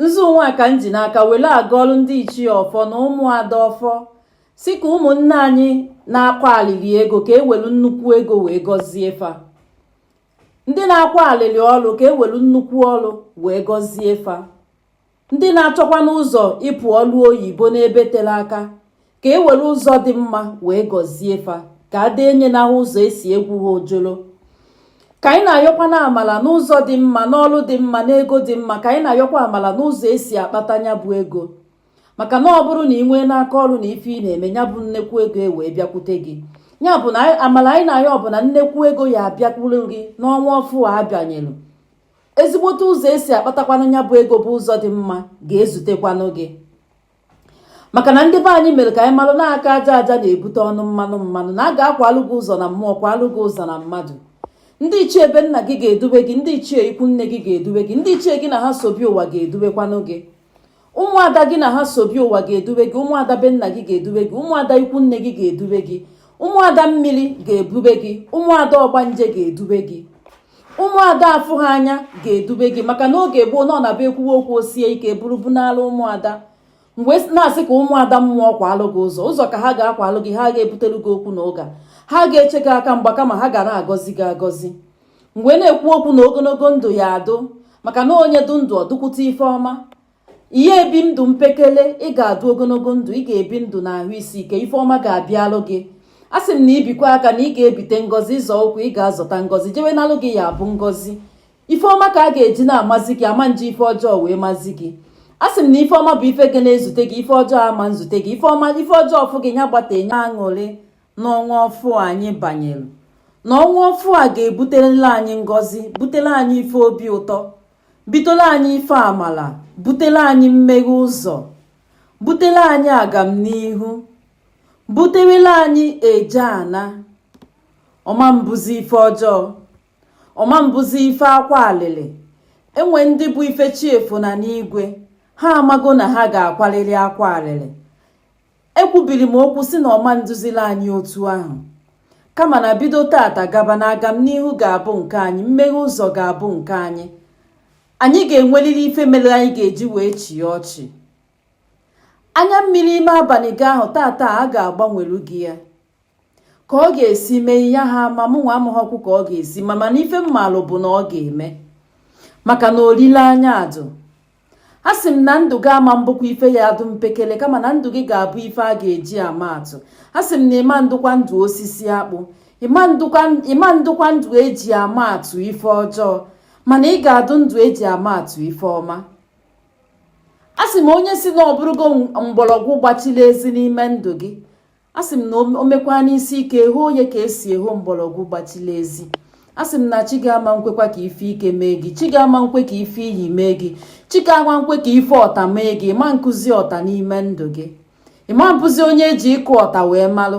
nzu nwa ka m ji n'aka were agọrụ ndị ichie ọfọ na ụmụada ọfọ sị ka ụmụnne anyị na-akwa alịlị ego ka e welu nnukwu ego wee gọzie fa ndị na-akwa alịlị ọrụ ka e welu nnukwu ọrụ wee gọzie fa ndị na-achọkwanụ ụzọ ịpụ olu oyibo n'ebe tere aka ka e were ụzọ dị mma wee gọzie fa ka a dee nye n'ahụ ụzọ esi egwu ha ojolo ka anyị na-ayọkwanụ amala n'ụzọ dị mma n'ọlụ dị mma n'ego dị mma ka anyị na-ayọkwa amala n'ụzọ esi akpata nya bụ ego maka na ọ bụrụ na ị nwee n'aka ọrụ na ife ị na-eme ya bụ nnekwu ego e wee bịakwute gị ya bụ na amala anyị na-ayọ ọ bụ na nnekwu ego ya abịakwuru gị n'ọnwa ọfụ a a banyelu ezigbote ụzọ esi akpatakwanụ ya bụ ego bụ ụzọ dị mma ga-ezutekwanụ gị maka na ndị be anyị mere ka anyị malụ na aka aja aja na-ebute ọnụ mmanụ mmanụ na a ga-akwalụ gị ụzọ na mmụọ kwalụ gị ụzọ na mmadụ ndị ichie be nna gị ga-edube gị ndị ichie ikwu nne gị ga-edube gị ndị ichie gị na ha so bịa ụwa ga-edubekwanụ gị ụmụada gị na ha so bịa ụwa ga-edube gị ụmụada be nna gị ga-edube gị ụmụada ikwu nne gị ga-edube gị ụmụada mmiri ga-ebube gị ụmụada ọgbanje ga-edube gị ụmụada afụ ha anya ga-edube gị maka na oge gboo na ọ na-abụ e kwuwe okwu o sie ike buru bunala ụmụada m wee na-asị ka ụmụada mmụọ kwalụ gị ụzọ ụzọ ka ha ga-akwalụ gị ha ga-ebutelu gị okwu na ụka ha ga-eche gị aka mgba kama ha ga na-agọzi gị agọzi m wee na-ekwu okwu na ogologo ndụ ya adụ maka na onye dụ ndụ ọ dụkwute ife ọma ị ha ebi ndụ mpekele ị ga-adụ ogologo ndụ ị ga-ebi ndụ na ahụ isi ike ife ọma ga-abịalụ gị a sị m na i bikwa aka na ị ga-ebite ngọzi ị zọ ụkwụ ị ga-azọta ngọzi jewe n'ọlụ gị ya abụ ngọzi ife ọma ka a ga-eji na-amazi gị a ma nji ife ọjọọ wee mazi gị a sị m na ife ọma bụ ife ga na-ezute gị ife ọjọọ ama nzute gị ife ọma ife ọjọọ ọ fụ gị ya gbata enye aṅụrị n'ọnwa ọfụ anyị banyere na ọnwa ọfụ a ga-ebutela anyị ngọzi butere anyị ife obi ụtọ Butela anyị ife amala, butela anyị mmeghe ụzọ, butela anyị agamnihu, butewela anyị eje ana, ọ ma mbụzi ife ọjọọ, ọ ma mbụzi ife akwa alịlị, e nwe ndị bụ ife chi efo na n'igwe, ha amago na ha ga-akwalili akwa alịlị, ekwubiri m okwu sị na ọ ma ndụzila anyị otu ahụ kama na bido taata gaba na agam n'ihu ga-abụ nke anyị mmeghe ụzọ ga-abụ nke anyị anyị ga-enweliri ife mere anyị ga-eji wee chịe ọchị anya mmiri ime abalị gị ahụ taata a ga-agbanwelu gị ya ka ọ ga-esi mee ihe ha ma mụ nwa amaghọkwu ka ọ ga-esi me mana ife m malụ bụ na ọ ga-eme maka na olileanya adụ a sị m na ndụ gị ama mbụkwa ife ya adụ mpekele kama na ndụ gị ga-abụ ife a ga-eji ama atụ a sị m na ịma ndụkwa ndụ osisi akpụ ịma ndụkwa ndụ eji ama atụ ife ọjọọ mana ị ga-adụ ndụ eji ama atụ ife ọma a sị m onye sị na ọ bụrụgo mgbọrọgwụ gbachila ezi n'ime ndụ gị a sị m na o mekwa n'isi ike hoo onye ka esi eho mgbọrọgwụ gbachila ezi a sị m na chi gị ama nkwekwa ka ife ike mee gị chi gị ama nkwe ka ife iyi mee gị chi gị ama nkwe ka ife ọta mee gị ịma nkụzi ọta n'ime ndụ gị ịma mbụzi onye eji ịkụ ọta wee malụ